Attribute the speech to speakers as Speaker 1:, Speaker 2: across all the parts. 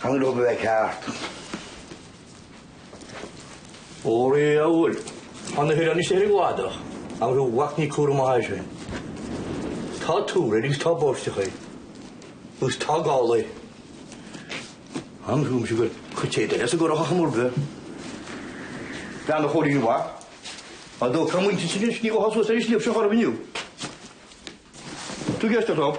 Speaker 1: Chan go raibh a bheith ceart. Ó ré amhail an oiche fanfaidh sé ar an gcladach agus a mhac ní cúram maith air sin. Tá tuar air agus tá báisteach air agus tá gal air. An gcuimhníonn tú gur chuir téad eile sa gcurrach a chomordaí. Bean an chroí mhaith. Ar ndóigh tá muintir sin ag sníomh a thosú as ar an sliabh seo charbh inniu. Tú ceist orthu.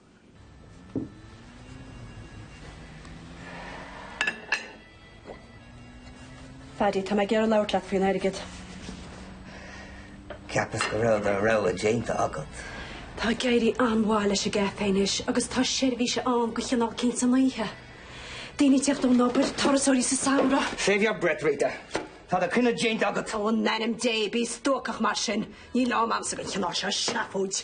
Speaker 2: Phaddy, tá mé ag iarraidh labhairt leat faoin airgead.
Speaker 3: Cheapas go raibh do rogha déanta agat. Tá Gary
Speaker 2: an-mhaith leis an gcafé anois agus tá seirbhís ann de chineál eicínt san oíche. Daoine ag teacht ón obair, turasóirí sa samhradh. Save your breath, Rita.
Speaker 3: Tá do cinneadh déanta agat. Ó, in ainm Dé,
Speaker 2: bí stuacach mar sin. Níl am a'msa don chineál seo seafóid.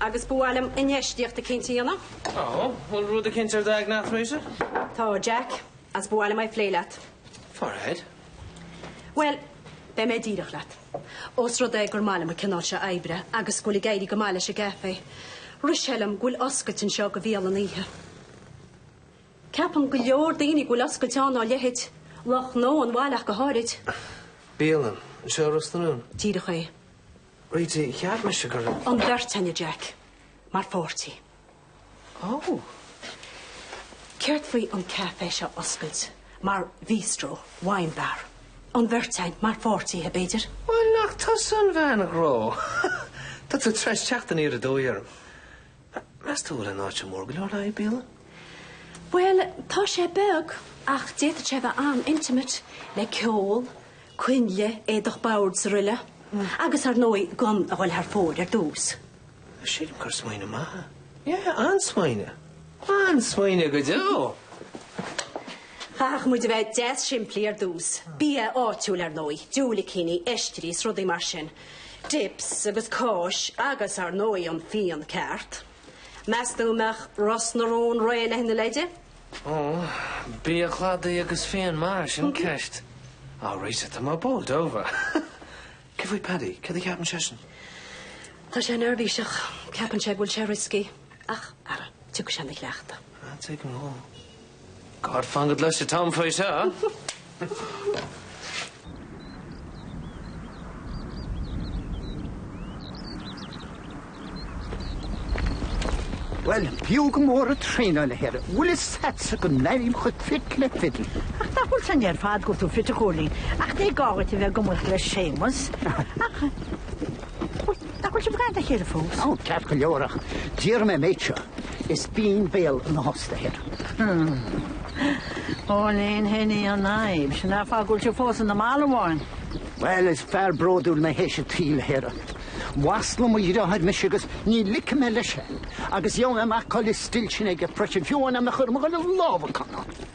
Speaker 2: Agus ba mhaith liom infheistíocht eicínt a dhéanamh. Ó,
Speaker 4: bhfuil rud eicínt ar d'aigne a't, muise? Tá, a
Speaker 2: Jack, agus ba mhaith liom é phlé leat. Fire ahead. Bhuel, beidh mé díreach leat. Ós rud é gur maith liom an cineál seo oibre agus go bhfuil ag éirí go maith leis an gcafé, rith sé liom go bhfuil oscailt anseo do bhialann oíche. Ceapann go leor daoine go bhfuil oscailt ann dá leithéid, lucht gnó an bhaile ach go háirid. Bialann?
Speaker 4: Anseo i Ros na Rún? Díreach é. Rita, cheap mise go raibh. an bheirt againn a
Speaker 2: Jack mar pháirtí. Ó! Céard faoi an café seo a oscailt mar bhistro, wine bar? An bheirt againn mar pháirtithe, b'fhéidir? Bhuel, nach tusa
Speaker 4: an bhean ghnó! Tá tú tar éis teacht aniar aduaidh orm. Meas tú an bhfuil an áit mór go leor le haghaidh bialann? Bhuel,
Speaker 2: tá sé beag ach d'fhéadfadh sé a bheith an-intimate, le ceol, coinnle, éadach boird 's aroile. Agus ar ndóigh gan a dhul thar fóir ar dtús. Sílim gur
Speaker 4: smaoineamh maith é. Yeah, an-smaoineamh. An-smaoineamh go deo!
Speaker 2: Chaithfeadh muid a bheith deas simplí ar dtús. Bia áitiúil ar ndóigh, diúilicíní, oistrí 's rudaí mar sin. Dips agus cáis agus, ar ndóigh, an fíon ceart. Meastú go mbeadh Ros na Rún réidh lena leithéide? Ó,
Speaker 4: bia cladaigh agus fíon maith, sin an ceist. Á Rita, tá mé bowled over. Céard faoi Paddy, cad a cheapann seisean?
Speaker 2: Tá sé neirbhíseach. Ceapann sé go bhfuil sé risky. Ach, ara, tiocfaidh sé ina chleachtadh. Tigh an Mhóil.
Speaker 4: God fan go gcloise Tom faoi seo!
Speaker 5: Bhuel, b'fhiú go mór an traenáil a Athair. Bhfuil fhios agatsa go n-airím chomh fit le fidil? Ach nach bhfuil fhios againn ar
Speaker 6: fad go bhfuil tú fit a Chóilín, ach ní gá dhuit a bheith ag maíomh le Séamas. Ach Nach bhfuil sibh ag caint le chéile fós? Ó, ceart go leor,
Speaker 5: ach déarfaidh mé an méid seo, is binn béal ina thost a Athair.
Speaker 6: Cóilín, sin í an fhadhb, sin é an fáth go bhfuil sibh fós ina mbalbháin. Bhuel, is
Speaker 5: fear bródúil mé théis an tsaoil a Athair. Mhaslaigh mo dhriotháir mise agus ní ligfidh mé leis é, agus gheobhaidh mé amach cá bhfuil an stil sin aige freisin, fiú amháin má chaithim a ghoil ag lámhacán!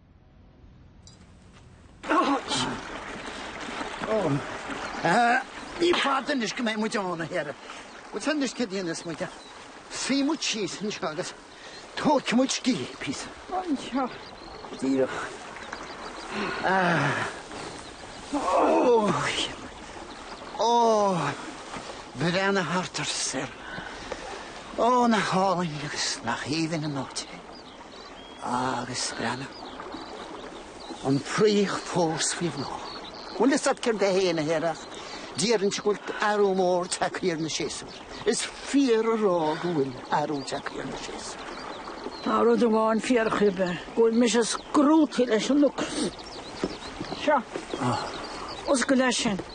Speaker 5: Ní fada anois go mbeidh muid ann, a Athair. Agus anois cad a dhéanfas muid? Suífidh muid síos anseo agus tógfaidh muid scíth píosa. Anseo. Díreach. Ó, breathnaigh thart ort a Athair. Ó, nach álainn agus nach aoibhinn an áit é. agus breathnaigh an fraoch fós faoi bhláth. Bhfuil fhios agat céard é féin a Athair ach déarfainnse go bhfuil athrú mór tagtha ar na séasúir. Is fíor a rá go bhfuil athrú tagtha ar na séasúir. Tá
Speaker 6: rud amháin fíorchinnte, go bhfuil mise scrúdta leis an ocras. Seo, oscaill é sin.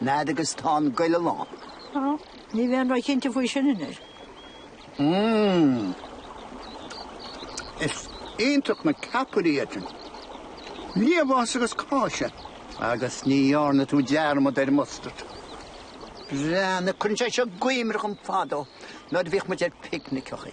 Speaker 5: Nead agus tá an goile lán. Á,
Speaker 6: ní bheinn róchinnte faoi sin anois. Mmm.
Speaker 5: Is iontach na ceapairí iad sin. Liamhás agus cáise. Agus ní dhearna tú dearmad ar an mustard. Breathnaigh, cuireann sé seo i gcuimhne dhom fadó, nuair a bhíodh muid ar phicniceachaí.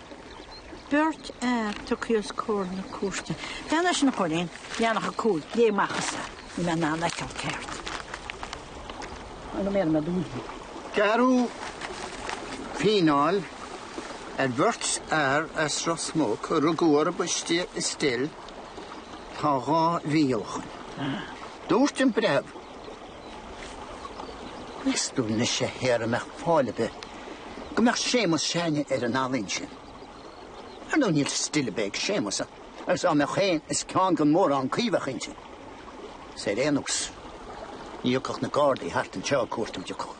Speaker 6: Beirt fhear tugtha os comhair na cúirte. Fan leis an churén, leathanach 5, léigh amach thusa é, níl mé in ann é a fheiceáil ceart a go mér mé dúinn. Gearradh
Speaker 5: fíneáil ar bheirt fhear as Ros Muc a rugadh orthu istigh i stil tá dhá mhí ó shin. Dúirt an breitheamh. Meas tú anois a Athair an mbeadh fáil ar bith go mbeadh Séamus s'againne ar an ealaín sin. Ar ndóigh níl stil ar bith ag Séamus agus dá mbeadh féin is ceann gan mórán caoi a bheadh inti. Is ar aon nós, ní thiocfadh na Gardaí thart anseo ag cuartú de cuach.